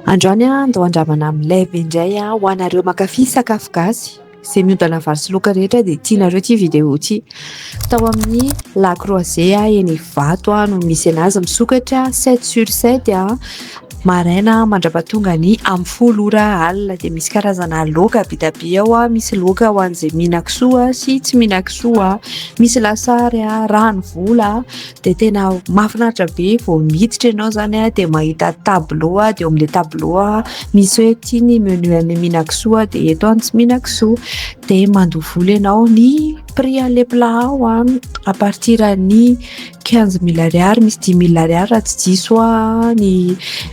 Androany aho handoa andramana amin'ny live indray aho ho anareo mankafy sakafo gasy. Izay miodana vary sy laoka rehetra dia tianareo ity video ity. Tao amin'ny La Croisée eny Ivato no misy anazy misokatra sept sur sept maraina mandra-pahatonga ny amin'ny folo ora alina. Dia misy karazana laoka be dia be ao, misy laoka ho an'izay mihinan-kisoa sy tsy mihinan-kisoa, misy lasary, ranovola. dia tena mahafinaritra be vao miditra ianao izany a dia mahita tableau a dia eo amin'ilay tableau a misy hoe ity ny menu an'ny minakisoa dia eto any tsy minakisoa dia mandoa vola ianao ny prix an'ilay plat ao a à partir an'ny quinze mille ariary misy dix mille ariary raha tsy diso aho ny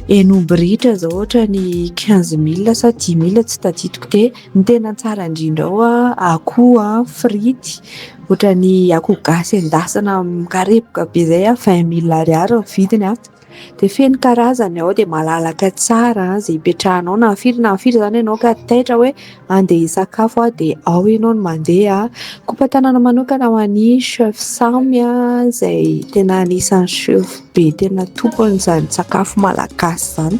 henombirihitra izao ohatra ny quinze mille sa dix mille tsy tadidiko dia Ny tena tsara indrindra ao an, akoho an, frity, ohatran'ny akoho gasy endasina mikarepoka be izay an, vingt mille ariary ny vidiny an, dia feno karazany ao dia malalaka tsara an, izay ipetrahanao na firy na firy izany ianao ka taitra hoe andeha hisakafo aho dia ao ianao no mandeha an, kopa-tanana manokana ho an'ny chef samy an, izay tena anisan'ny chef be tena tompon'izany sakafo malagasy izany.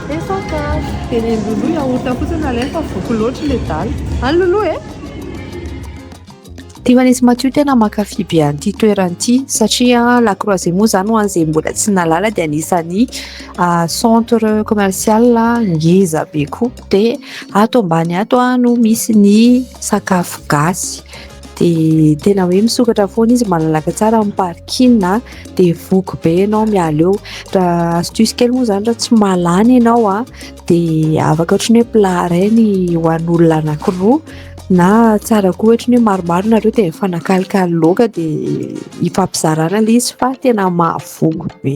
Efa kary. Dia ny an'i Lolo yaourt fotsiny no alainy fa voky loatra ilay dalle. An Lolo e! Tiako an'izy Matio tena mankafy be an'ity toerana ity satria la croisée moa zany ho an'izay mbola tsy nahalala dia anisan'ny centre commercial ngeza be koa dia ato ambany ato no misy ny sakafo gasy. dia tena hoe misokatra foana izy malalaka tsara amin'ny parking a dia voky be ianao miala eo raha astuce kely moa izany raha tsy mahalany ianao a dia afaka ohatran'ny hoe plat iray ny ho an'olona anankiroa na tsara koa ohatran'ny hoe maromaro nareo dia mifanakalikalo loaka dia hifampizarana ilay izy fa tena mahavoky be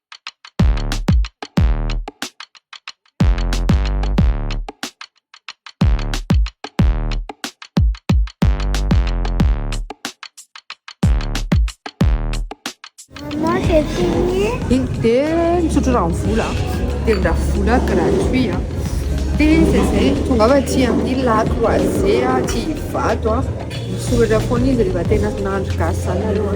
misotro rano vola dia mira vola gratuit a dia zay zay tonga fa tsy amin'ny lato oise a tsy hivato a misoratra foana izy rehefa tena nandro gasy zany aloha